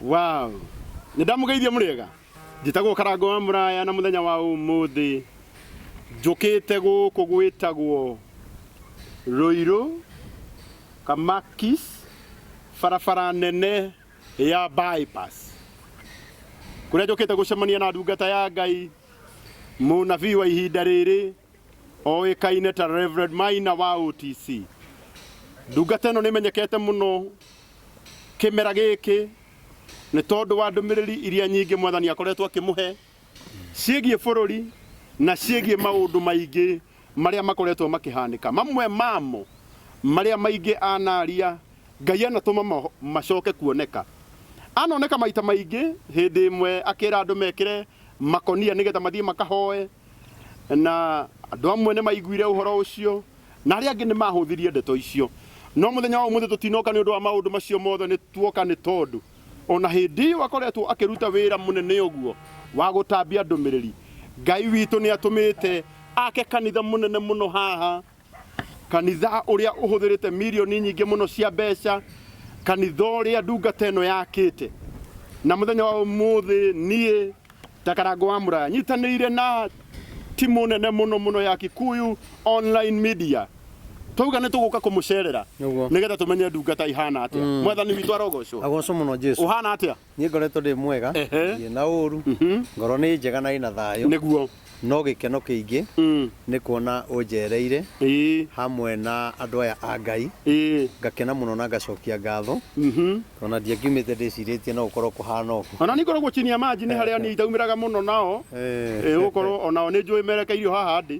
Wow. Nĩ ndamugeithia mũrĩega. Njĩtagwo Karango wa Mũraya na mũthenya wa ũmũthĩ njũkĩte gũkũ gwĩtagwo Rũirũ Kamakis barabara nene ya bypass kũrĩa njũkĩte gũcemania na ndungata ya Ngai mũnabii wa ihinda rĩrĩ Oĩkaine ta Rev. Maina wa OTC. Ndungata ĩno nĩmenyekete mũno kĩmera gĩkĩ nĩ tondũ wa ndũmĩrĩri iria nyingĩ mwathani akoretwo akĩmũhe ciĩgiĩ bũrũri na ciĩgiĩ maũndũ maingĩ marĩa makoretwo makĩhanĩka. Mamwe mamo marĩa maingĩ anaria Ngai anatũma macoke kuoneka. Anoneka maita maingĩ hĩndĩ ĩmwe akĩra andũ mekĩre makũnia nĩgetha mathiĩ makahoe. Na andũ amwe nĩ maiguire ũhoro ũcio, na arĩa angĩ nĩ maahũthirie ndeto icio. No mũthenya wa ũmũthĩ tũtinoka nĩ ũndũ wa maũndũ macio mothe, nĩ tuoka nĩ tondũ o na hĩndĩ ĩyo akoretwo akĩruta wĩra mũnene ũguo wa gũtambia ndũmĩrĩri. Ngai witũ nĩ atũmĩte ake kanitha mũnene mũno haha. kanitha ũrĩa ũhũthĩrĩte mirioni nyingĩ mũno cia mbeca kanitha ũrĩa ndungata ĩno yakĩte na mũthenya wa ũmũthĩ niĩ ta karango wa mũraya nyitanĩire na timu nene mũno mũno ya kikuyu online media twauga nĩ tũgũka kũmũcerera Nĩguo. nĩgetha tũmenye ndungata ihana atĩa mwathani witũ arogocwo agocwo mũno jesu ũhana atĩa niĩ ngoretwo ndĩ mwega Ehe. ndiĩ na ũru Mhm. ngoro nĩ njega na ĩna thayũ nĩguo no gĩkeno kĩingĩ Mm. nĩ kuona ũnjereire Ĩĩ. hamwe na andũ aya a ngai Ĩĩ. ngakena mũno na ngacokia ngatho Mhm. tona ndiangiumĩte ndĩcirĩtie no gũkorwo kũhana ũguo ona nĩ ngoragwo chini ya maji nĩ harĩa niĩ itaumĩraga mũno nao Eh. Ĩĩ, gũkorwo onao nĩ njũĩ merekeirio haha ndĩ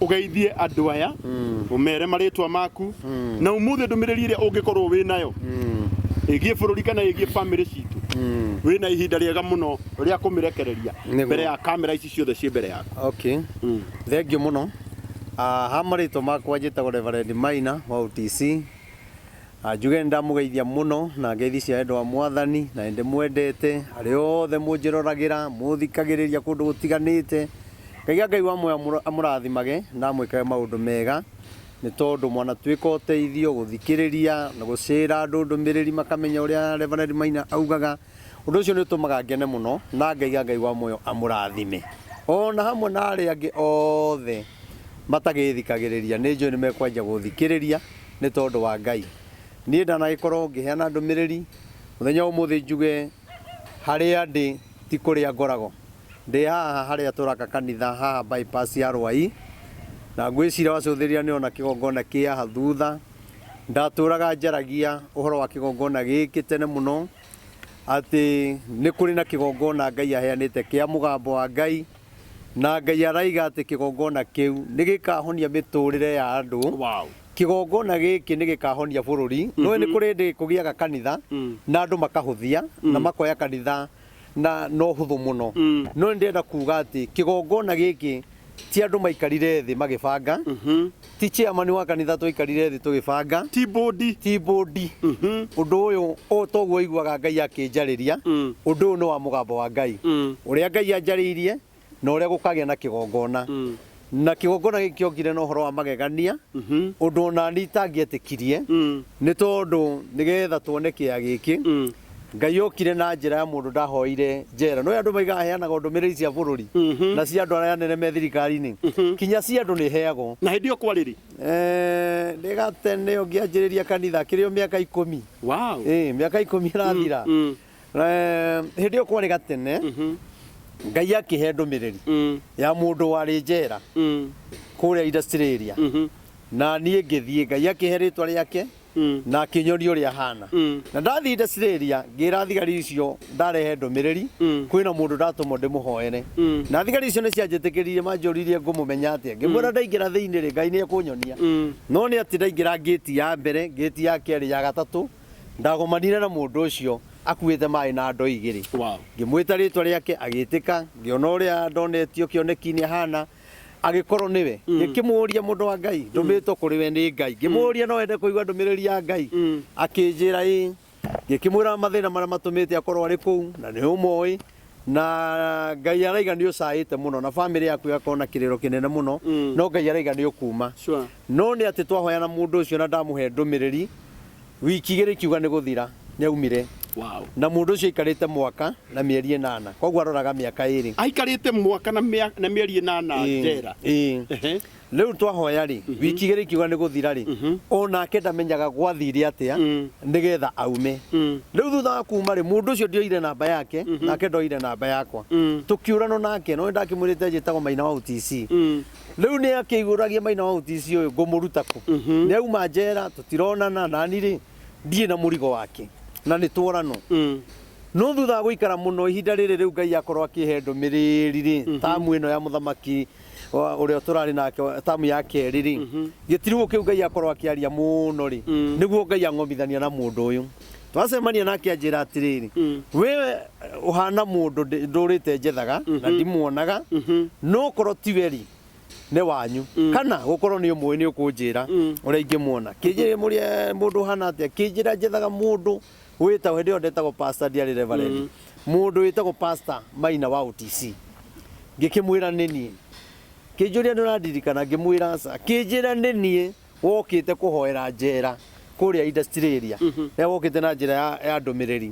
ũgeithie andũ aya ũmere marĩtwa maku na umuthĩ ndũmĩrĩri ĩrĩa ũngĩkorwo wĩ nayo ĩgiĩ bũrũri kana ĩgiĩ bamĩrĩ citũ wĩ na ihinda rĩega mũno rĩa kũmĩrekereria Nĩguo. mbere ya kamera ici ciothe ciĩ mbere yaku okay thengiũ mũno Ah, ha marĩtwa makwa njĩtagwo reverend maina wa utc Na njuge nĩndamũgeithia mũno na ngeithi cia wendo wa Mwathani, na nĩndĩmwendete, arĩa othe mũnjĩroragĩra, mũũthikagĩrĩria kũndũ gũtiganĩte. Ngai a Ngai wa muoyo amũ- amũrathimage na amwĩkage maũndũ mega, nĩ tondũ mwanatuĩka ũteithio gũthikĩrĩria na gũcĩra andũ ndũmĩrĩri makamenya ũrĩa Reverend Maina augaga. Ũndũ ũcio nĩũtũmaga ngene mũno, na Ngai a Ngai wa muoyo amũrathime, o na hamwe na arĩa angĩ othe matagĩthikagĩrĩria. Nĩnjũĩ nĩmekwanjia gũthikĩrĩria. nĩ tondũ wa Ngai. Niĩ ndanagĩkorwo ngĩheana ndũmĩrĩri, mũthenya wa ũmũthĩ njuge harĩa ndĩ ti kũrĩa ngoragwo. Ndĩ haha harĩa tũraka kanitha haha bypass ya Rwaĩ, na ngwĩciria wacũthĩrĩria nĩ ũrona kĩgongona kĩ haha thutha. Ndatũraga njaragia ũhoro wa kĩgongona gĩkĩ tene mũno, atĩ nĩ kũrĩ na kĩgongona Ngai aheanĩte kĩa mũgambo wa Ngai. Na Ngai aroiga atĩ kĩgongona kĩu nĩ gĩkaahonia mĩtũũrĩre ya andũ. Wow. Kĩgongona gĩkĩ nĩ gĩkaahonia bũrũri. Nĩ ũĩ nĩ kũrĩ hĩndĩ kũgĩaga kanitha na andũ makahũthia na makoya kanitha na na ũhũthũ mũno. No nĩ ndĩrenda kuuga atĩ kĩgongona gĩkĩ ti andũ maikarire thĩ magĩbanga. ti chairman wa kanitha twaikarire thĩ tũgĩbanga ti bũndi ti bũndi Mhm. ũndũ ũyũ ũũ toguo ũiguaga ngai akĩnjarĩria Mm. ũndũ ũyũ nĩ wa mũgambo wa ngai Mm. ũrĩa ngai anjarĩirie na ũrĩa gũkagĩa na kĩgongona Mm. na kĩgongona gĩkĩ kĩongire na ũhoro wa magegania Mhm. ũndũ onani itangĩetĩkirie Mm. nĩ tondũ nĩgetha tuone kĩya gĩkĩ Mm. Ngai yokire na njĩra ya mũndũ ndahoire njera. Nĩũĩ andũ maigaga heanaga ndũmĩrĩri cia bũrũri na cia andũ arĩa anene me thirikari-inĩ, kinya cia andũ nĩheagwo. Na hĩndĩ ĩyo kwarĩ rĩ? Eeh, nĩ gatene ũyũ ngĩanjĩrĩria kanitha, akĩrĩ o mĩaka ikũmi. Wow! Ĩĩ, mĩaka ikũmi ĩrathira. Eeh, hĩndĩ ĩyo kwarĩ gatene, Ngai akĩhe ndũmĩrĩri ya mũndũ warĩ njera kũrĩa Australia, na niĩ ngĩthiĩ. Ngai akĩhe rĩtwa rĩake. mm. na akinyoria uria hana mm. na ndathii ndaciriria ngira thigari icio ndarehe ndumiriri mm. kwina mundu ndatumo ndimuhoere mm. na thigari icio ni cianjitikiririe manjuririe ngumumenya atia ngimwira mm. ndaingira thiini ri ngai ni akunyonia mm. no ni ati ndaingira ngiti ya mbere ngiti ya keri ya gatatu ndagomanire na mundu ucio akuite mai na ndo igiri wow. ngimwita ritwa riake agitika ngiona uria ndonetio kioneki ni hana Angĩkorwo nĩwe, Mm. ngĩkĩmũũria mũndũ wa Ngai, ndũmĩtwo kũrĩ we nĩ Ngai. Ngĩmũũria no ende kũigua ndũmĩrĩri ya Ngai. Mm. Akĩnjĩra ĩ. Ngĩkĩmwĩra mathĩna marĩa matũmĩte akorwo arĩ kũu, na nĩ ũmoĩ. Na Ngai araiga nĩ ũcaĩte mũno, na bamĩrĩ yaku ĩgakorwo na kĩrĩro kĩnene mũno. Mm. No Ngai araiga nĩ ũkuma. Sure. No nĩ atĩ twahoyana mũndũ ũcio na ndamũhe ndũmĩrĩri, Wiki igĩrĩ ikiuga nĩ gũthira, nĩ aumire. Wow. Na mũndũ ũcio aikarĩte mwaka na mĩeri ĩnana, koguo aroraga mĩaka ĩrĩ. Aikarĩte mwaka na mĩeri ĩnana njera. Rĩu twahoya rĩ, mhm. wiki igĩrĩ ikiuga nĩ gũthira rĩ, mhm. o nake ndamenyaga gwathire atĩa mm. nĩgetha aume. Mm. Rĩu thutha wa kuma rĩ, mũndũ ũcio ndioire namba yake, mhm. nake ndoire namba yakwa. Mm. Tũkĩũrano nake, no ndakĩmwĩrĩte njĩtagwo Maina wa UTC. Rĩu nĩ akĩihũragia maina wa ũtisi ũyũ ngũmũruta kũ? Nĩ auma njera tũtironana nani rĩ ndirĩ na mũrigo wake na nĩ tworano. No thutha wa gũikara mũno ihinda rĩrĩ rĩu Ngai akorwo akĩhe ndũmĩrĩri rĩ tamu ĩno ya mũthamaki wa- ũrĩa tũrarĩ nake wa- tamu ya kerĩ rĩ gĩtiribũ kĩu Ngai akorwo akĩaria mũno rĩ nĩguo Ngai ang'omithania na mũndũ ũyũ. twacemania nake anjĩra atĩrĩrĩ we ũhana mũndũ ndĩ- ndũrĩte njethaga na ndimuonaga no korwo ti weri nĩ wanyu kana gũkorwo nĩ ũmũĩ nĩ ũkũnjĩra ũrĩa ingĩmuona kĩnjĩrĩ mũrĩa mũndũ ũhana atĩa kĩnjĩra njethaga mũndũ wĩtagwo hĩndĩ ĩyo ndetagwo pasta ndiarĩ reverend mũndũ wĩtagwo pasta maina wa OTC ngĩkĩmwĩra nĩ niĩ kĩnjũria nĩ ũrandirikana ngĩmwĩra aca kĩnjĩra nĩ niĩ wokĩte kũhoera njera kũrĩa Australia rĩrĩa wokĩte na njĩra ya, ya ndũmĩrĩri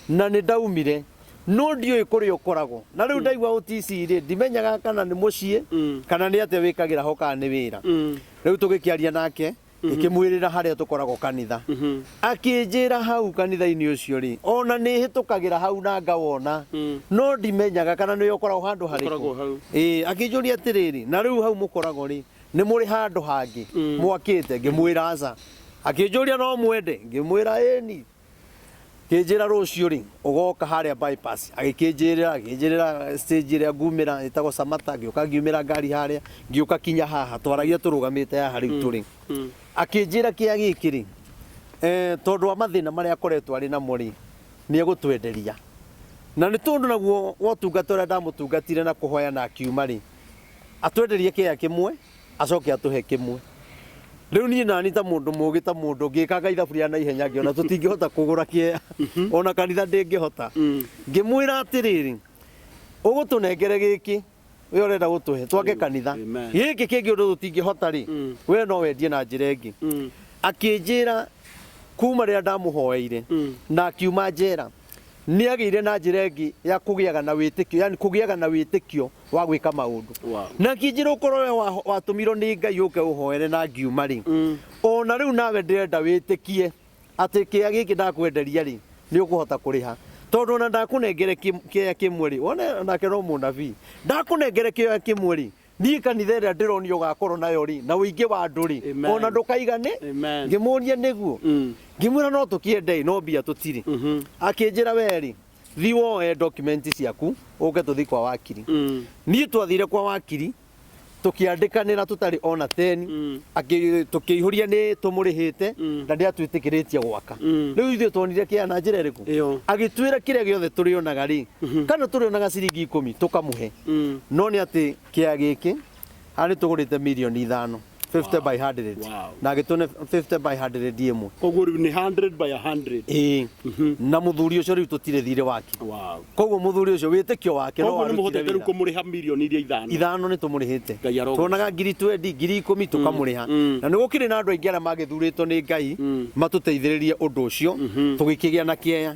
na nĩ ndaumire no ndiũĩ kũrĩa ũkoragwo na rĩu ndaigua OTC rĩ ndimenyaga kana nĩ mũciĩ kana nĩ atĩa wĩkagĩra ho kana nĩ wĩra rĩu tũgĩkĩaria nake ngĩkĩmwĩrĩra harĩa tũkoragwo kanitha akĩnjĩra hau kanitha-inĩ ũcio rĩ ona nĩ hĩtũkagĩra hau na ngawona no ndimenyaga kana nĩ ũkoragwo handũ harĩkũ Ũkoragwo hau. Ĩĩ, akĩnjũria atĩrĩrĩ na rĩu hau mũkoragwo rĩ nĩ mũrĩ handũ hangĩ mwakĩte ngĩmwĩra aca akĩnjũria no mwende ngĩmwĩra ĩni kĩnjĩra rũciũ rĩ ũgoka harĩa bypass agĩkĩnjĩrĩra akĩnjĩrĩra stage ĩrĩa ngumĩra ĩtagwo Samata ngĩũka ngiumĩra ngari harĩa ngĩũka kinya haha twaragia tũrũgamĩte haha rĩu tũrĩ akĩnjĩra kĩa gĩkĩ rĩ eh, tondũ wa mathĩna marĩa akoretwo arĩ namo rĩ nĩ egũtwenderia na nĩ tondũ naguo wotungata ũrĩa ndamũtungatire na kũhoya na akiuma rĩ atwenderie kĩea kĩmwe acoke atũhe kĩmwe rĩu niĩ nani ta mũndũ mũgĩ ta mũndũ ngĩkanga ithabu rĩa na ihenya ngĩona tũtingĩhota kũgũra kĩea ona kanitha ndĩngĩhota ngĩmwĩra atĩrĩrĩ ũgũtũnengere gĩkĩ we ũrenda gũtũhe twake kanitha Amen. gĩkĩ kĩngĩ ũndũ tũtingĩhota rĩ we no wendie na njĩra ĩngĩ akĩnjĩra kuma rĩrĩa ndamũhoeire na akiuma njera Nĩ agĩire na njĩra ĩngĩ ya kũgĩaga na wĩtĩkio, yani kũgĩaga na wĩtĩkio wa gwĩka maũndũ. Wow. Na kĩnjĩra ũkorwo we wa- watũmirwo nĩ Ngai ũke ũhoere na ngiuma rĩ, o na rĩu nawe ndĩrenda wĩtĩkie atĩ kĩya gĩkĩ ndakwenderia rĩ, nĩ ũkũhota kũrĩha. Tondũ ona ndakũnengere kĩ- kĩoya kĩmwe rĩ, wone nake no mũnabii, ndakũnengere kĩoya kĩmwe rĩ, Niĩ kanitha ĩrĩa ndĩronia ũgakorwo nayo rĩ, na ũingĩ wa andũ rĩ, Amen. ona ndũkaigane. Amen. Ngĩmũria nĩguo. Mm. Ngĩmwĩra no tũkĩende no mbia tũtirĩ. Mhm. Akĩnjĩra we rĩ, thi woe document ciaku ũke tũthi kwa wakiri. Mm. Niĩ twathire kwa wakiri tũkĩandĩkanĩra tũtarĩ ona teni Mm. Akĩ- tũkĩihũria nĩ tũmũrĩhĩte Mm. na ndĩatwĩtĩkĩrĩtie gwaka Mm. rĩu ithuĩ tuonire kĩa na njĩra ĩrĩkũ Ĩyo. agĩtwĩra kĩrĩa gĩothe tũrĩonaga rĩ kana tũrĩonaga ciringi ikũmi tũkamũhe no nĩ atĩ kĩa gĩkĩ haha nĩ tũgũrĩte mirioni ithano 50 by 100 Wow. na agĩtũne 50 by 100 ĩmwe koguo rĩu nĩ 100 by 100 ĩĩ na mũthuri ũcio rĩu tũtirĩ thirĩ wake wow koguo mũthuri ũcio wĩtĩkio wake no koguo nĩ warutire mũhotete rĩu wĩra. kũmũrĩha mirioni iria ithano ithano nĩ tũmũrĩhĩte Ngai arogoca. tuonaga ngiri twendi ngiri ikũmi tũkamũrĩha mm. na nĩ gũkĩrĩ na andũ aingĩ arĩa magĩthurĩtwo nĩ ngai matũteithĩrĩrie ũndũ ũcio tũgĩkĩgĩa na kĩeya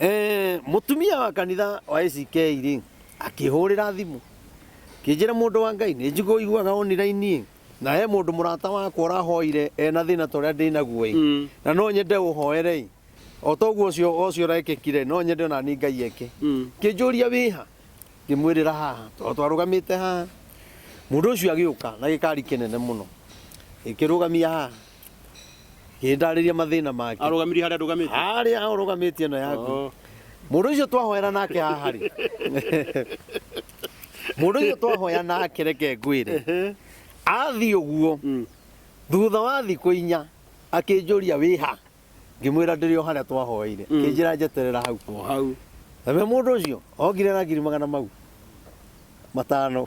Eh, mutumia wa kanitha wa ACK rĩ akĩhũrĩra thimũ kĩnjĩra mũndũ wa ngai nĩ njigũ iguaga online na he mũndũ mũrata wakwa ũrahoire ena thĩna ta ũrĩa ndĩ naguo ĩ Mm. na no nyende ũhoere ĩ o ta ũguo ũcio ũcio ũrekĩkire no nyende ona nĩ ngai eke Mm. kĩnjũria wĩha ngĩmwĩrĩra haha tondũ twarũgamĩte haha mũndũ ũcio agĩũka na gĩkari kĩnene mũno ĩkĩrũgamia haha gĩndarĩria mathĩna make arũgamirie harĩa ndũgamĩte harĩa ũrũgamĩtie ĩno yaku Oo. mũndũ ũcio twahoera nake haha rĩ mũndũ ũcio twahoya nake reke ngwĩre Ehe. athiĩ ũguo Mm. thutha wa thikũ inya akĩnjũria wĩha ngĩmwĩra ndĩrĩ o harĩa twahoeire kĩnjĩra njeterera hau O hau. nawe mũndũ ũcio ogire na ngiri magana mau matano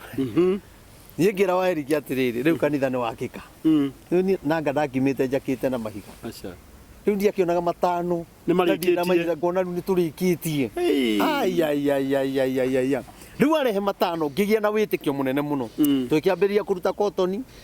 niĩ ngĩra wa eriki atĩrĩrĩ rĩu kanitha nĩ wakĩka Mm. rĩu niĩ nanga ndakimĩte njakĩte na mahiga Aca. rĩu ndiakĩonaga matano Nĩ marĩkĩtie. Ndathiĩ ndamaigĩrĩra, ngona rĩu nĩ tũrĩkĩtie Hey. aiaiaiaiaiaia rĩu arehe matano ngĩgĩa na wĩtĩkio mũnene mũno Mm. tũkĩambĩrĩria kũruta kotoni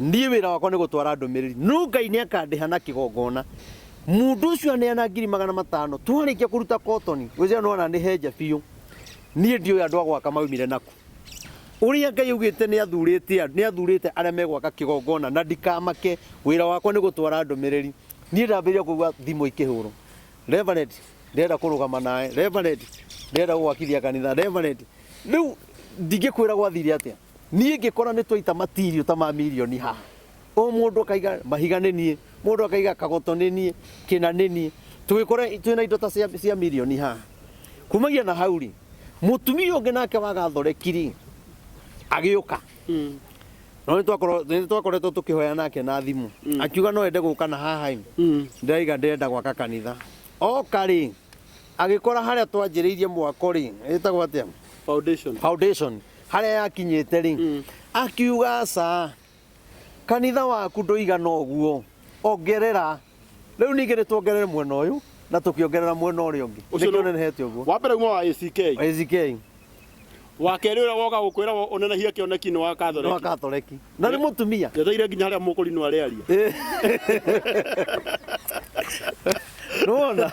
Niĩ wĩra wakwa nĩ gũtwara ndũmĩrĩri, no Ngai nĩ akandĩha na kĩgongona. Mũndũ ũcio aneana ngiri magana matano, twarĩkia kũruta kotoni, ũcio no ananĩhenja biũ. Niĩ ndiũĩ andũ a gwaka maumire nakũ. Ũrĩa Ngai augĩte nĩ athurĩte andũ, nĩ athurĩte arĩa megwaka kĩgongona na ndikamake. Wĩra wakwa nĩ gũtwara ndũmĩrĩri. Niĩ ndambĩrĩria kũigua thimũ ikĩhũrwo, Reverend, ndĩrenda kũrũgama nawe, Reverend, ndĩrenda gũgwakithia kanitha, Reverend. Rĩu ndingĩkwĩra gwathire atĩa. Niĩ ngĩkora nĩ twaita matirio ta ma mirioni ha. O mũndũ akaiga mahiga nĩ niĩ, mũndũ akaiga kagoto nĩ niĩ, kĩna nĩ niĩ. Tũgĩkora twĩna indo ta cia, cia mirioni ha. Kumagia na hau rĩ, mũtumia ũngĩ nake wa gathoreki rĩ, agĩũka. No nĩ twakorwo- nĩ twakoretwo tũkĩhoya nake na thimũ. Akiuga no ende gũka na haha ĩ, ndĩraiga ndĩrenda gwaka kanitha. Oka rĩ, agĩkora harĩa twanjĩrĩirie mwako rĩ, ĩtagwo atĩa? Foundation. foundation harĩa yakinyĩte rĩ mm. akiuga aca kanitha waku ndũigana ũguo ongerera rĩu ningĩ nĩ tuongerere mwena ũyũ na tũkĩongerera mwena ũrĩa ũngĩ nĩkĩo nenehete ũguo wa mbere kuma wa ACK ACK wa kerĩ ũrĩa woka gũkwĩra ũnenehie kĩoneki nĩ wa kathoreki nĩ wa kathoreki na nĩ mũtumia njeteire nginya harĩa mũkũrinwo arĩaria nĩwona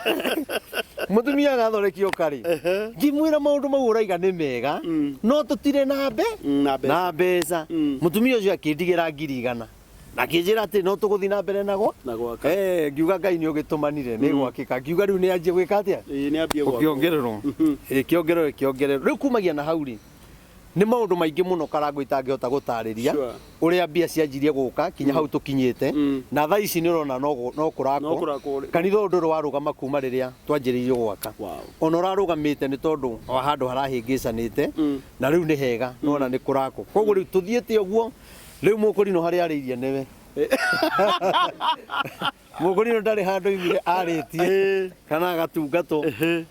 mũtumia agathonekio karĩ ngimwĩra maũndũ mau ũraiga nĩ mega Mm. no tũtirĩ na mbe Mm, na mbeca. na mbeca Mm. mũtumia ũcio akĩndigĩra ngiri igana na akĩnjĩra atĩ no tũgũthiĩ na mbere nago Na gwaka. Eh, ngiuga ngai nĩ ũgĩtũmanire nĩ gwakĩka ngiuga rĩu nĩ anjie gwĩka atĩa Ĩĩ, nĩ ambie gwakwo. ũkĩongererwo Mhm. ĩkĩongererwo ĩkĩongererwo rĩu kumagia na hau rĩ Nĩ maũndũ maingĩ mũno Karangũ itangĩhota gũtarĩria Sure. ũrĩa mbia cianjirie gũka kinya hau tũkinyĩte Mm. na thaa ici nĩ ũrona no gũ- no No kũrakwo kũrakwo rĩ- kanitha ũyũ ndũrĩ warũgama kuma rĩrĩa twanjĩrĩirie gwaka Wow. ona ũrarũgamĩte nĩ tondũ wa handũ harahĩngĩcanĩte Mm. na rĩu nĩ hega nĩ wona nĩ kũrakwo koguo rĩu tũthiĩte ũguo rĩu mũkũrinũ harĩa arĩirie nĩwe Mũkũrinũ ndarĩ handũ iguire arĩtie kana agatungatwo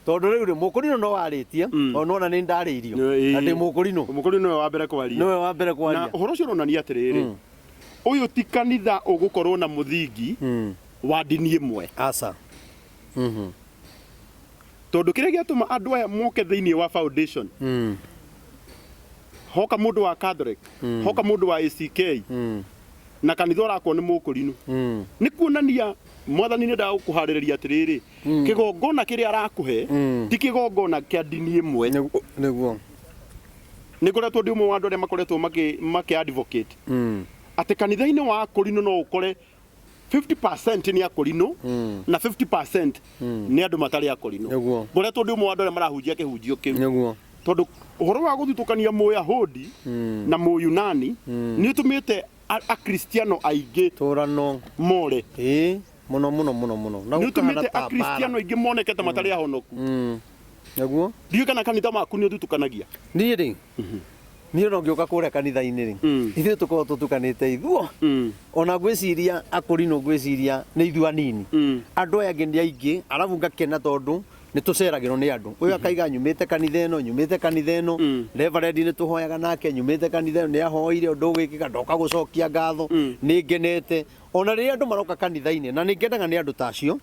tondũ rĩu rĩ mũkũrinũ no arĩtie Mm. o nona nĩ ndarĩirio Ĩĩ. na ndĩ mũkũrinũ Mũkũrinũ nĩwe wa mbere kwaria. nĩwe wa mbere Na kwaria ũhoro ũcio ũronania atĩrĩrĩ, Mm. ũyũ ti kanitha ũgũkorwo na mũthingi Mm. wa ndini ĩmwe, aca Mhm. tondũ kĩrĩa gĩatũma andũ aya moke thĩinĩ wa foundation Mm. hoka mũndũ wa Catholic, hoka mũndũ wa ACK, Mm. na kanitha ũrakwo nĩ mũkũrinũ Mm. nĩ kuonania mwathani nĩ ndagũkũharĩrĩria atĩrĩrĩ kĩgongona kĩrĩa arakũhe Mm. ti kĩgongona kĩa ndini ĩmwe Nĩgu- Nĩguo. nĩ ngoretwo ndĩ ũmwe wa andũ arĩa makoretwo makĩ- makĩ advocate Mm. atĩ kanitha-inĩ wa akũrinũ no ũkore 50% nĩ akũrinũ Mm. na 50% nĩ andũ matarĩ akũrinũ Nĩguo. ngoretwo ndĩ ũmwe wa andũ arĩa marahunjia kĩhunjio kĩu Nĩguo. tondå å horo wa gå thutåkania må yahudi Mm. na må yunani Mm. nä å tå mä te akristiano aingä Tũrano. more Ĩ, mũno mũno mũno mũno. Na nä å tå mä gũkahana te ta akristiano mbara. aingä moneke ta matarä ahonoku Mm. Naguo? ndiå kana kanitha maku nä å thutåkanagia Niĩ rĩ, niĩ no ngĩũka kũrĩa kanitha-inĩ rĩ, Mm. ithuĩ tũkorwo tũtukanĩte ithuo. Mm. Ona ngwĩciria akũrinũ ngwĩciria nĩ ithuĩ anini. Mm. Andũ aya angĩ nĩ aingĩ, arabu ngakena tondũ nĩ tũceragĩrwo nĩ andũ ũyũ akaiga nyumĩte kanitha ĩno nyumĩte kanitha ĩno reverendi nĩ tũhoyaga nake nyumĩte kanitha ĩno nĩ ahoire ũndũ ũgwĩkĩka ndoka gũcokia ngatho nĩ ngenete ona rĩrĩa andũ maroka kanitha-inĩ na nĩ ngenaga nĩ andũ ta acio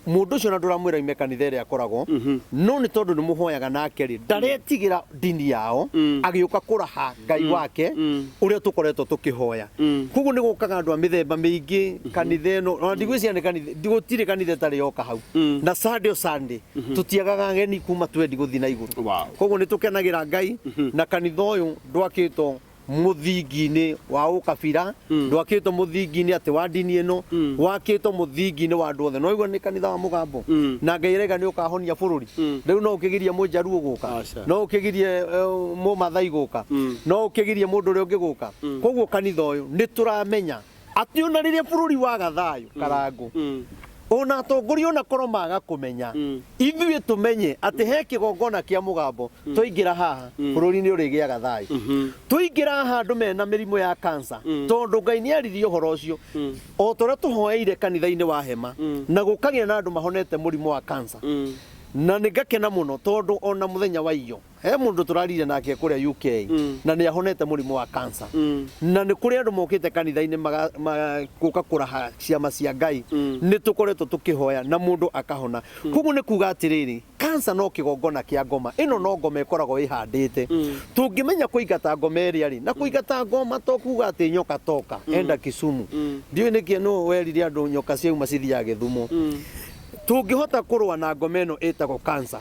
mũndũ ũcio ona ndũramwĩra ime kanitha ĩrĩa akoragwo no nĩ tondũ nĩ mũhoyaga nake rĩ ndaretigĩra ndini yao Mm. agĩũka kũraha ngai wake Mm. ũrĩa tũkoretwo tũkĩhoya Mm. koguo nĩ gũkaga andũ a mĩthemba mĩingĩ kanitha ĩno ona ndigwĩciria nĩ kanitha ndi- gũtirĩ kanitha ĩtarĩ yoka hau Mm. na sunday o sunday tũtiagaga ageni kuma twendi gũthiĩ na igũrũ Wow. koguo nĩ tũkenagĩra ngai na kanitha ũyũ ndwakĩtwo mũthingi-inĩ wa ũkabira Mm. ndwakĩtwo mũthingi-inĩ atĩ wa ndini ĩno Mm. wakĩtwo mũthingi-inĩ wa andũ othe noigua nĩ kanitha wa mũgambo Mm. na ngai rega nĩ ũkahonia bũrũri Mm. rĩu no ũkĩgirie mũjaruo gũka Aca. no ũkĩgirie eh, mũmathai gũka Mm. no ũkĩgirie mũndũ ũrĩa ũngĩ gũka Mm. koguo kanitha ũyũ nĩ tũramenya Atĩ ona rĩrĩa bũrũri waga thayũ karangũ Mm. ona atongoria ona korwo maga kũmenya Mm. ithuĩ tũmenye atĩ he kĩgongona kĩa mũgambo twaingĩra haha bũrũri-inĩ ũrĩgĩaga thayũ Mhm. tũingĩra haha andũ mena mĩrimũ ya kansa Mm. tondũ ngai nĩ aririe ũhoro ũcio Mm. o ta ũrĩa tũhoeire kanitha-inĩ wa hema Mm. na gũkagĩa na andũ mahonete mũrimũ wa kansa Mm. na nĩ ngakena mũno tondũ ona mũthenya wa iyo He mũndũ tũrariire nake kũrĩa UK na nĩ ahonete mũrimũ wa kansa na nĩ kũrĩ andũ mokĩte kanitha-inĩ maga- ma- gũka kũraha ciama cia Ngai nĩ tũkoretwo tũkĩhoya na mũndũ akahona koguo nĩ kuga atĩrĩrĩ kansa no kĩgongona kĩa ngoma ĩno no ngoma ĩkoragwo ĩhandĩte tũngĩmenya kũingata ngoma ĩrĩa rĩ na kũingata ngoma to kuga atĩ nyoka toka enda Kisumu ndiũĩ nĩkĩ nũ werire andũ nyoka ciauma cithiaga Gĩthumo tũngĩhota kũrũa na ngoma ĩno ĩtagwo kansa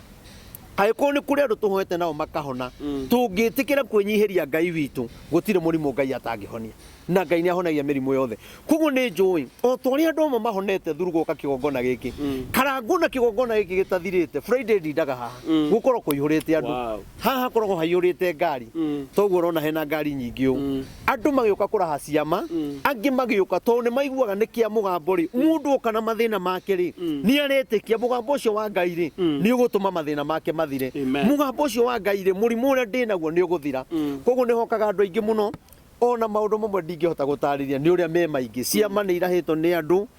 Angĩkorwo nĩ kũrĩ andũ tũhoete nao makahona, tũngĩtĩkĩra kwĩnyihĩria Ngai witũ, gũtirĩ mũrimũ Ngai atangĩhonia. Na Ngai nĩ ahonagia mĩrimũ yothe. Kwoguo nĩ njũĩ, o ta ũrĩa andũ amwe mahonete through gũka kĩgongona gĩkĩ, karangũ na kĩgongona gĩkĩ gĩtathirĩte, Friday ndindaga haha, gũkoragwo kũihũrĩte andũ. Wow. Haha hakoragwo haihũrĩte ngari, ta ũguo ũrona hena ngari nyingĩ ũũ. andũ magĩũka kũraha ciama Mm. angĩ magĩũka tondũ nĩ maiguaga nĩ kĩa mũgambo rĩ mũndũ oka na mathĩna make rĩ Mm. nĩ aretĩkia mũgambo ũcio wa ngai rĩ Mm. nĩ ũgũtũma mathĩna make mathire Amen. mũgambo ũcio wa ngai rĩ mũrimũ ũrĩa ndĩ naguo nĩ ũgũthira Mm. koguo nĩ hokaga andũ aingĩ mũno ona maũndũ mamwe ndingĩhota gũtarĩria nĩ ũrĩa me maingĩ ciama nĩ irahĩtwo nĩ andũ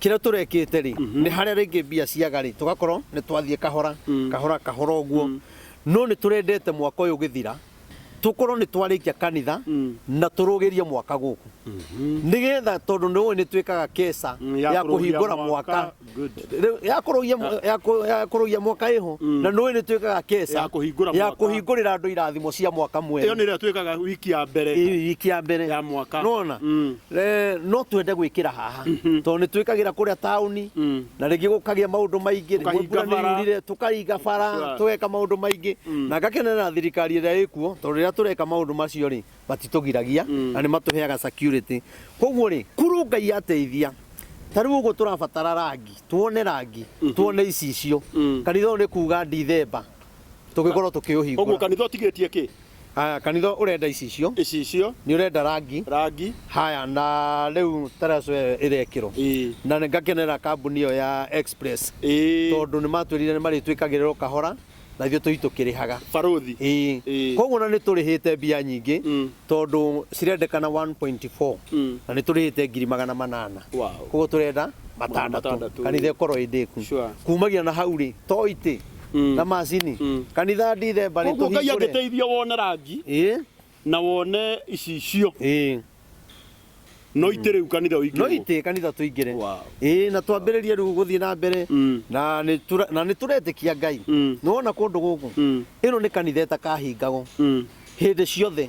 Kĩrĩa tũrekĩte rĩ, nĩ harĩa rĩngĩ mbia ciaga rĩ, tũgakorwo nĩ twathiĩ kahora, kahora, kahora ũguo. No nĩ tũrendete mwaka ũyũ ũgĩthira, tũkorwo nĩ twarĩkia kanitha na tũrũgĩrie mwaka gũkũ. Nĩgetha tondũ nĩ ũĩ nĩ twĩkaga keca Mm, ya ya kũrũgia kũhingũra mwaka. mwaka. Good. Rĩu ya kũrũgia mwa- ya kũ- ya kũrũgia mwaka ĩho, na nĩ ũĩ nĩ twĩkaga keca Ya kũhingũra ya mwaka. kũhingũrĩra andũ irathimo cia mwaka Ĩyo mwerũ. nĩ ĩrĩa twĩkaga wiki ya mbere. Ĩĩ, wiki ya mbere. Ya mwaka. Nĩwona? Mm. Eh, no twende gwĩkĩra haha mhm. tondũ nĩ twĩkagĩra kũrĩa taũni mm. na rĩngĩ gũkagĩa maũndũ maingĩ rĩmwe tũkaringa bara tũgeka maũndũ maingĩ mm. na ngakenera thirikari ĩrĩa ĩkuo tondũ rĩrĩa tũreka maũndũ macio rĩ matitũgiragia mm. na nĩ matũheaga security koguo rĩ kuru ngai ateithia ta rĩu ũguo tũrabatara rangi tuone rangi mhm. tuone icicio kanitha ũyũ nĩ kuga ndithemba tũgĩkorwo tũkĩũhingũra ũguo kanitha ũtigĩtie kĩ Haya, kanitha urenda icicio icicio niurenda rangi rangi haya na riu taraco iyo irekirwo ii na nĩ ngakenera kambuni iyo ya express ii tondu nĩ matwirire nĩ marĩtwĩkagĩrĩrwo kahora na ithuĩ tũi tũkĩrĩhaga baruthi ĩĩ Ĩĩ. koguo na nĩ tũrĩhĩte mbia nyingĩ Mm. tondũ cirendekana 1.4 Mm. na nĩ tũrĩhĩte ngiri magana manana Wow. koguo tũrenda matandatũ matandatũ. kanitha ĩkorwo ĩndĩku Sure. kumagia na hau rĩ to itĩ Mm. na macini Mm. kanitha ndithemba nĩ koguo ngai tũhingũre angĩteithia wone rangi Ĩ, na wone icicio ĩ. no itä rä u kanitha å no itä kanitha tũingĩre Wow. ĩ na twambĩrĩrie rĩu gũthiĩ na mbere Mm. na nĩ tũra- na nĩ tũretĩkia ngai Mm. nĩwona kũndũ gũkũ Mm. ĩno nä kanitha ĩtakahingagwo Mm. hä ndä ciothe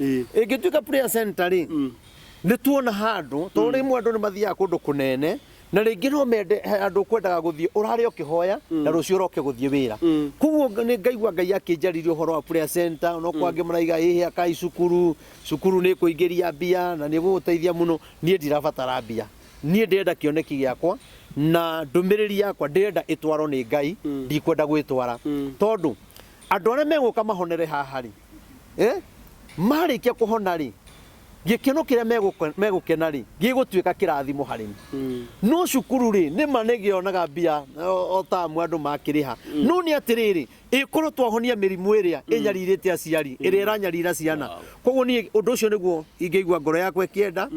Ĩĩ. ĩngĩtuĩka prayer center rĩ Mm. nĩ tuona handũ tondũ rĩmwe andũ nĩ mathiaga kũndũ kũnene na rĩngĩ no mende he andũ kwendaga gũthiĩ ũrare ũkĩhoya na rũciũ ũroke gũthiĩ wĩra Mm. koguo nga- nĩ ngaigua ngai akĩnjarĩria ũhoro wa prayer center no kwangĩ maraiga ĩhĩ akai cukuru cukuru nĩ kũingĩria mbia na nĩ gũgũteithia mũno niĩ ndirabatara mbia niĩ ndĩrenda kĩoneki gĩakwa na ndũmĩrĩri yakwa ndĩrenda ĩtwarwo nĩ ngai ndikwenda gwĩtwara Mm. tondũ andũ arĩa megũka mahonere haha rĩ Eh? marĩkia kũhona rĩ gĩkeno kĩrĩa megũke- megũkena rĩ gĩgũtuĩka kĩrathimo harĩ niĩ no cukuru rĩ nĩ ma nĩ gĩonaga mbia o o tamu andũ makĩrĩha no nĩ atĩrĩrĩ ĩkorwo twahonia mĩrimũ ĩrĩa ĩnyarirĩte aciari ĩrĩa ĩranyarira ciana koguo niĩ ũndũ ũcio nĩguo ingĩigua ngoro yakwa ĩkĩenda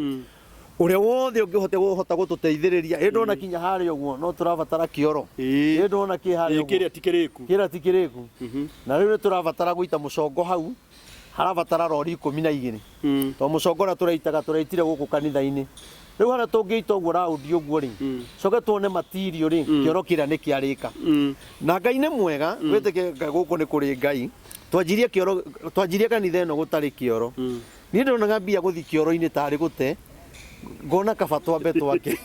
Ũrĩa wothe ũngĩhote ũhota gũtũteithĩrĩria. Ĩ ndona kinya harĩa ũguo no tũrabatara kĩoro. Ĩ ndona kĩ harĩa ũguo. Kĩrĩa ti kĩrĩku. Kĩrĩa ti kĩrĩku. Na rĩu nĩ tũrabatara gũita mũcongo hau, harabatara rori ikũmi na igĩrĩ. Tondũ mũcongo ũrĩa tũraitaga tũraitire gũkũ kanitha-inĩ. Rĩu harĩa tũngĩita ũguo raundi ũguo rĩ, tũcoke tuone material rĩ, kĩoro kĩrĩa nĩ kĩarĩka. Na Ngai nĩ mwega, wĩtĩkĩrie gũkũ nĩ kũrĩ Ngai. Twanjirie kĩoro, twanjirie kanitha ĩno gũtarĩ kĩoro. Niĩ ndonaga mbia gũthiĩ kĩoro-inĩ tarĩ gũte ngona kaba twambe twake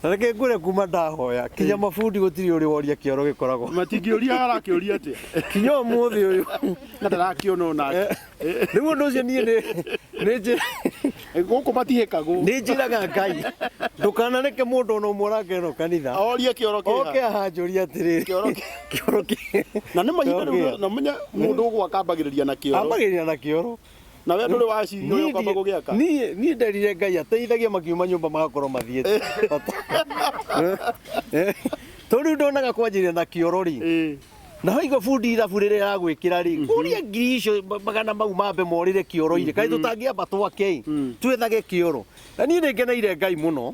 na reke ngwĩre kuma ndahoya kinya mabundi gũtirĩ ũrĩ woria kĩoro gĩkoragwo matingĩũria arakĩũria atĩa kinya ũmũthĩ ũyũ na ndarakĩona onake rĩu ũndũ ũcio niĩ nĩ- nĩ njĩ- gũkũ matihĩkagwo nĩ njĩraga ngai ndũkanareke mũndũ ona ũmwe ũrangena kanitha orie kĩoro oke kĩha ahanjũria atĩrĩrĩ Kĩoro kĩ- kĩoro kĩ- na nĩ mahinda Kĩoro rĩu kĩ- namenya mũndũ ũgwa akambagĩrĩria na kĩoro ambagĩrĩria na kĩoro na we ndũrĩ waciria Niĩ ũyũ ũkamba ndi- gũgĩaka niĩ niĩ nderire ngai ateithagia makiuma nyũmba magakorwo mathiĩte Eh, to rĩu ndonaga kwanjĩrĩria na kĩoro rĩ Ĩĩ. na haiga bundi ithabu rĩrĩa ya gwĩkĩra rĩ kũria ngiri icio ma- magana mau mambe morĩre kĩoro-inĩ kaĩ tũtangĩamba twake ĩ, twethage kĩoro na niĩ nĩ ngeneire ngai mũno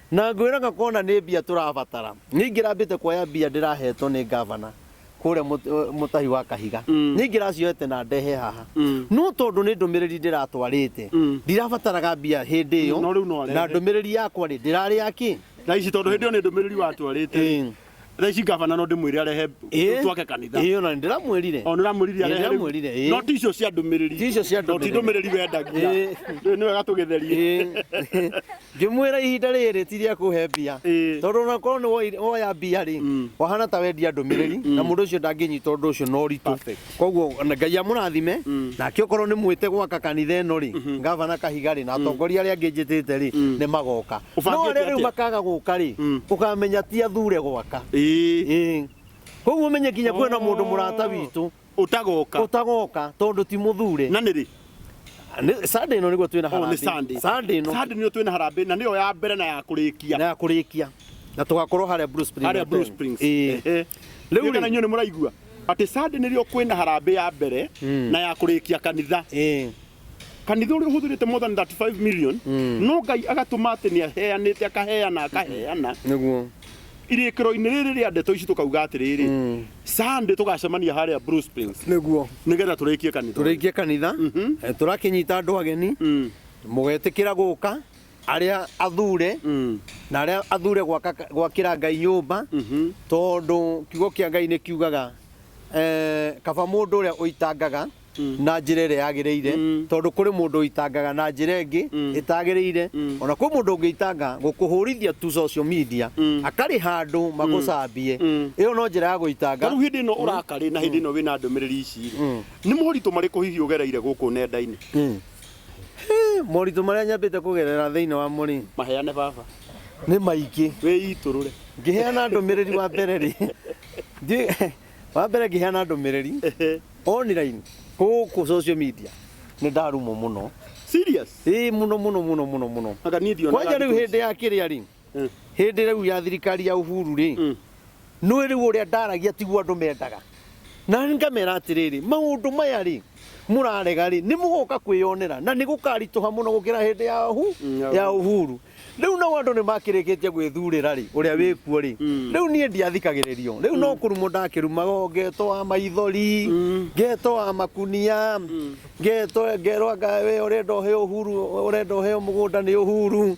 Na ngwĩraga kona nĩ mbia tũrabatara. Nĩingĩrambĩte kuoya mbia ndĩrahetwo nĩ ngavana kũrĩa mũtahi wa kahiga. Nĩingĩracioete na ndehe haha. No tondũ nĩ ndũmĩrĩri ndĩratwarĩte, ndirabataraga mbia hĩndĩ ĩyo, na ndũmĩrĩri yakwa-rĩ, ndĩrarĩ ya kĩ? Na ici tondũ hĩndĩ ĩyo nĩ ndũmĩrĩri watwarĩte-rĩ, thaa ici ngabana no ndĩmwĩre arehe Ĩĩ. twake kanitha ĩyo na ndĩramwĩrire o nĩramwĩrire Ĩĩ, arehe rĩu. ndĩramwĩrire, ĩĩ. no ti icio cia ndũmĩrĩri Ti icio cia No, ti ndũmĩrĩri. ndũmĩrĩri wendagia Ĩĩ. Rĩu nĩ wega tũgĩtherie Ĩĩ. ngĩmwĩra ihinda rĩrĩ ti rĩa kũhe mbia Ĩĩ. tondũ onakorwo nĩ woire- woya mbia rĩ Mm. wahana ta wendia ndũmĩrĩri na mũndũ ũcio ndangĩnyita ũndũ ũcio na ũritũ Perfect. koguo na ngai amũrathime nake okorwo nĩ mwĩte gwaka kanitha ĩno rĩ ngavana kahiga rĩ na atongoria arĩa angĩ njĩtĩte rĩ nĩ magoka no Ũbangĩte arĩa rĩu atĩa? makaga gũka rĩ Mm. ũkamenya ti athure gwaka Ĩĩ. Ĩĩ. koguo menye kinya kwĩna mũndũ mũrata witũ Ũtagoka. ũtagoka tondũ ti mũthure Na nĩ rĩ? Nĩ- Sunday ĩno nĩguo twĩna Oh, nĩ harambee. Sunday. Sunday ĩno Sunday nĩyo twĩna harambee na nĩyo ya mbere na ya kũrĩkia. na ya kũrĩkia na tũgakorwo harĩa Blue Spring harĩa Hotel. Blue Springs. Ĩĩ. Ehe. Rĩu Rĩu rĩ- kana inyuĩ nĩ mũraigua? Atĩ Sunday nĩrĩo kwĩna harambĩ ya mbere na ya kũrĩkia kanitha. Eh. Kanitha ũrĩa ũhũthĩrĩte more than 35 million no Ngai agatũma atĩ nĩ aheanĩte akaheana akaheana Nĩguo. irĩkĩro-inĩ rĩrĩ rĩa ndeto ici tũkauga atĩrĩrĩ Mm. Sunday tũgacemania harĩa Blue Springs Nĩguo. nĩgetha tũrĩkie kanitha. ũyũ. Tũrĩkie kanitha. Eh, Tũrakĩnyita andũ ageni. Mm. Mũgetĩkĩra gũka. arĩa athure Mm. na arĩa athure gwaka- gwakĩra ngai nyũmba Mhm. tondũ kiugo kĩa ngai nĩ kiugaga eh, kaba mũndũ ũrĩa ũitangaga na njĩra ĩrĩa yagĩrĩire Mm. tondũ kũrĩ mũndũ ũitangaga na njĩra ĩngĩ Mm. ĩtagĩrĩire Mm. ona kwĩ mũndũ ũngĩitanga gũkũhũrithia tu social media Mm. akarĩ handũ magũcambie Mm. ĩyo no njĩra ya gũitanga Tarĩu hĩndĩ ĩno ũrakarĩ na hĩndĩ ĩno wĩna ndũmĩrĩri ici rĩ, Mm. nĩ moritũ marĩkũ hihi ũgereire gũkũ nenda-inĩ Mm. Moritũ marĩa nyambĩte kũgerera thĩinĩ wa mũrĩ. Maheane baba. Nĩ maingĩ. Wĩitũrũre. Ngĩheana ndũmĩrĩri wa mbere rĩ. Wa mbere ngĩheana ndũmĩrĩri online gũkũ social media nĩ ndarumwo mũno. Serious? Ĩĩ mũno mũno mũno mũno mũno. Kwanja rĩu hĩndĩ ya kĩrĩa rĩ. hĩndĩ rĩu ya thirikari ya Uhuru rĩ Mm. nĩ rĩu ũrĩa ndaragia tiguo andũ mendaga na ngamera atĩrĩrĩ maũndũ maya rĩ mũrarega rĩ nĩ mũgoka kwĩyonera na nĩ gũkaritũha mũno gũkĩra hĩndĩ ya hu Mm, ya ya Uhuru rĩu nao andũ nĩ makĩrĩkĩtie gwĩthurĩra rĩ ũrĩa wĩkuo rĩ Mm. rĩu niĩ ndiathikagĩrĩrio rĩu no kũrumwo ndakĩrumago ngeto wa maithori Mm. ngeto wa makunia ngeto ngerwa ngawe ũrenda ũheo Uhuru ũrenda ũheo mũgũnda nĩ Uhuru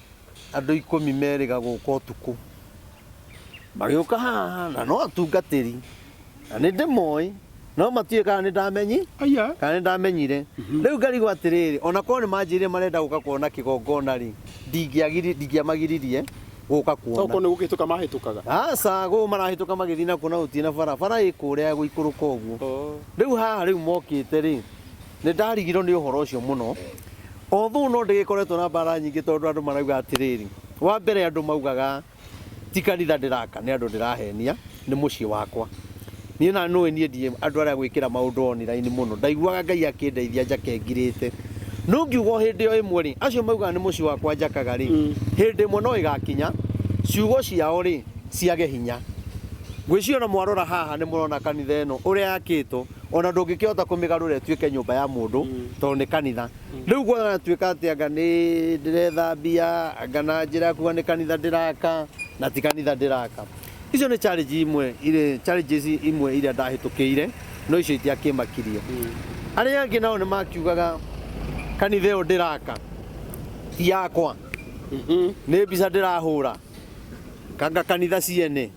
Andũ ikũmi merĩga gũka ũtukũ. Magĩũka haha na no atungatĩri na nĩ ndĩmoĩ no matiũĩ kana nĩ ndamenyi Aya. kana nĩ ndamenyire rĩu ngarigwo atĩrĩrĩ ona korwo nĩ manjĩrire marenda gũka kuona kĩgongona rĩ ndingĩagiri- ndingĩamagiririe gũka kuona Okorwo nĩ gũkĩhĩtũka mahĩtũkaga. aca gũũ marahĩtũka magĩthiĩ nakuo na gũtirĩ na bara bara ĩkũrĩa gũikũrũka ũguo rĩu haha rĩu mokĩte rĩ Nĩ ndarigirwo nĩ ũhoro ũcio mũno. Although no ndĩgĩkoretwo na mbara nyingĩ tondũ andũ marauga atĩrĩrĩ, wa mbere andũ maugaga ti kanitha ndĩraka nĩ andũ ndĩrahenia, nĩ mũciĩ wakwa. Niĩ na nũĩ niĩ ndiĩ andũ arĩa gwĩkĩra maũndũ online mũno. Ndaiguaga Ngai akĩndeithia njake ngirĩte. No ngiuga o hĩndĩ o ĩmwe rĩ, acio maugaga nĩ mũciĩ wakwa njakaga rĩ, hĩndĩ ĩmwe no ĩgakinya ciugo ciao rĩ, ciage hinya. Ngwĩciria ona mwarora haha nĩ mũrona kanitha ĩno ũrĩa yakĩtwo. o na ndũngĩkĩhota kũmĩgarũra ĩtuĩke nyũmba ya mũndũ tondũ nĩ kanitha rĩu gwanatuĩka atĩ anga nĩ ndĩrethambia anga na njĩra ya kuga nĩ kanitha ndĩraka na ti kanitha ndĩraka icio nĩ challenge imwe irĩ challenges imwe iria ndahĩtũkĩire no icio itiakĩmakirie arĩa angĩ nao nĩ makiugaga kanitha ĩyo ndĩraka ti yakwa nĩ mbica ndĩrahũra kanga kanitha ciene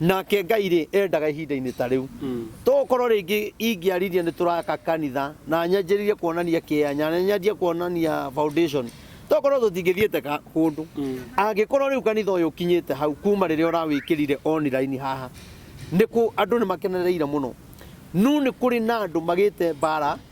Nake Ngai-rĩ, endaga ihinda-inĩ ta rĩu. Tokorwo rĩngĩ ingĩarĩria nĩ tũraka kanitha, na nyanjĩrĩrie kuonania kĩea, na nyanjie kuonania foundation, tokorwo tũtingĩthiĩte kũndũ. Angĩkorwo rĩu kanitha ũyũ ũkinyĩte hau kuma rĩrĩa ũrawĩkĩrire online haha, andũ nĩ makenereire mũno. No nĩ kũrĩ na andũ magĩte mbara.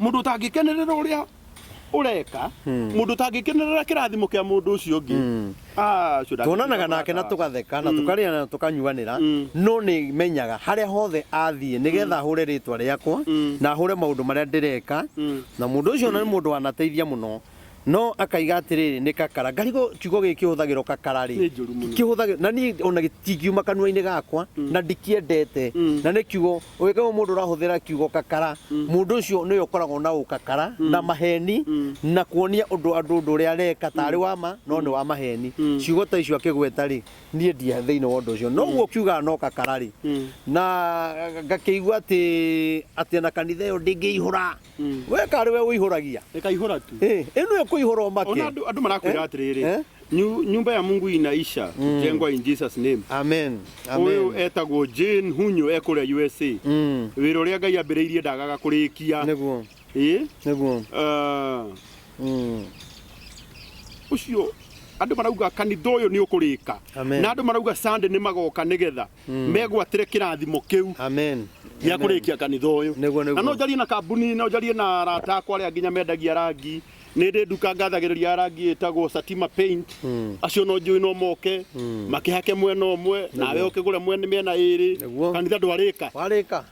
må ndå tangäkenerä ra å rä a å reka må ndå tangäkenerä ra kä rathimo kä a må ndå å cio å ngä tuonanaga nake na tugatheka na tukarĩa na tukanyuanĩra no nĩ menyaga harĩa hothe athiĩ nĩgetha ahũre rĩtwa rĩakwa na ahũre maũndũ marĩa ndĩreka na mũndũ ũcio ona nĩ mũndũ wanateithia mũno no akaiga atĩrĩrĩ nĩ kakara ngarigwo kiugo gĩkĩ kĩhũthagĩrwo kakara rĩ Nĩ njũru mũno. kĩhũthagĩrwo na niĩ ona gĩtingiuma kanua-inĩ gakwa na ndikĩendete na nĩ kiugo Ũngĩkorwo mũndũ ũrahũthĩra kiugo kakara, mũndũ ũcio nĩwe ũkoragwo na ũkakara na maheni na kuonia ũndũ andũ ũndũ ũrĩa areka tarĩ wa ma no nĩ wa maheni. Ciugo ta icio akĩgweta rĩ, niĩ ndi thĩinĩ wa ũndũ ũcio. No ũguo ũkiugaga no kakara rĩ, na ngakĩigua atĩ atĩ na kanitha ĩyo ndĩngĩihũra. Mm. we karĩ we ũihũragia ĩkaihũra tu Eh, ĩno ĩkũihũra ona ũmake andũ andũ marakwĩra Eh? atĩrĩrĩ Eh? "Nyu- nyũmba ya mungu inaisha jengwa in jesus name amen ũyũ amen etagwo jane hunyo ekũrĩa usa Mm, wĩra ũrĩa ngai ambĩrĩirie ndagaga kũrĩkia nĩguo Ĩ? nĩguo Ah, Mm, ũcio andå marauga kanitha å yå nä å kå rä ka Amen. na andå marauga sande nä magoka nä getha megwatĩre kĩrathimo kĩu Amen. gĩa Amen. kũrĩkia kanitha ũyũ Nĩguo, nĩguo. na no njarie na kambuni no njarie na arata akwa arĩa nginya mendagia rangi nĩ ndĩ nduka ngathagĩrĩria ya rangi ĩtagwo Satima Paint acio no njũĩ no moke makĩhake mwena ũmwe nawe ũkĩgũre mwena mĩena ĩrĩ Nĩguo. kanitha ndwarĩka Warĩka.